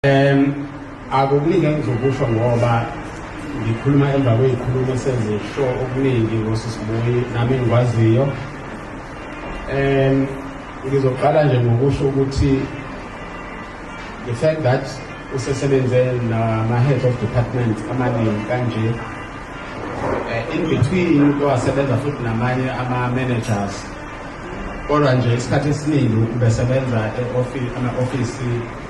um akukuningi engizokusho ngoba ngikhuluma emva kwey'khulumo sezisho okuningi ngosisibuyi nami engikwaziyo um ngizoqala nje ngokusho ukuthi the fact that usesebenze nama-head of department amaningi kanje eh, in between uke wasebenza futhi namanye ama-managers kodwa nje isikhathi esiningi ubesebenza ama-ofisi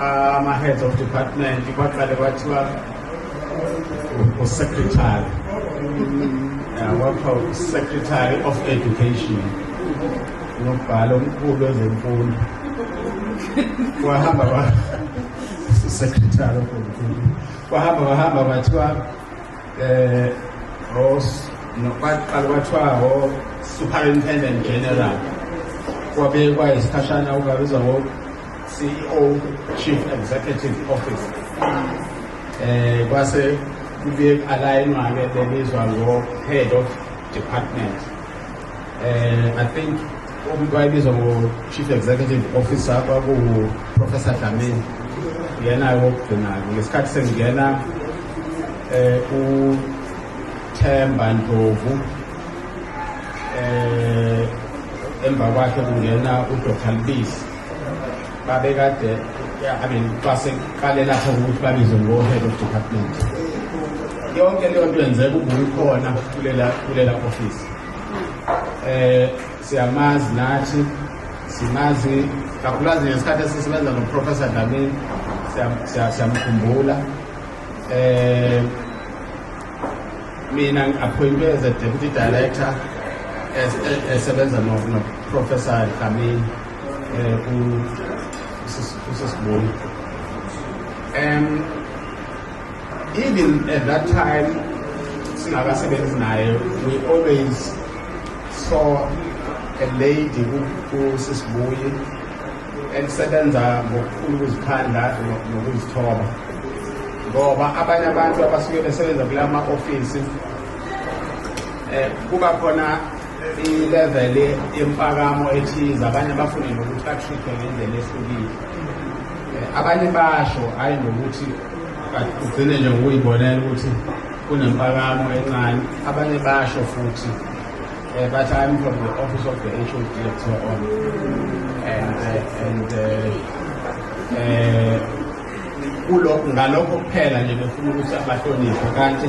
ama-heads of department kwaqale kwathiwa usecretary wakha usecretary of education nobhala omkhulu ezemfundo wahamba usecretary of education wahamba wahamba kwathiwa eh, um nokwaqala kwathiwa o-superintendent general kwabekwa isikhashana ukabizwa ngo CEO Chief Executive Officer eh kwase kubuye alayinwa ke lelizwa ngo head of department eh i think umuntu wayebizwa ngo chief executive officer kwaku professor Dlamini yena wokugcina ngesikhathi sengena eh u Themba Ndlovu eh emva kwakhe kungena uDr Lubisi babekade I mean xa seqale lapho ukuthi babizwe ngo-head of department yonke leyo nto yenzeka ubuyikhona kulela kulela office eh siyamazi nathi simazi kakhulukazi ngesikhathi esisebenza noprofessor Dlamini siyamkhumbula eh Mina ngi-appointwe as a deputy director esebenza noprofessor Dlamini um usesiboni um even at that time singakasebenzi naye we always saw a lady usisibuyi elisebenza ngokukhulu ukuzikhandla nokuzithoba ngoba abanye abantu abasuke besebenza kula ma-ofisi um kuba khona ilevel yempakamo ethize abanye bafune nokuthi batreatwe ngendlela ehlukile eh, abanye basho hhayi ngokuthi ugcine nje ngokuyibonela ukuthi kunempakamo encane abanye basho futhi Uh, but I'm from the office of the HO director on, and uh, and uh, uh, kulokho ngalokho kuphela nje befuna ukuthi abahloniphe kanti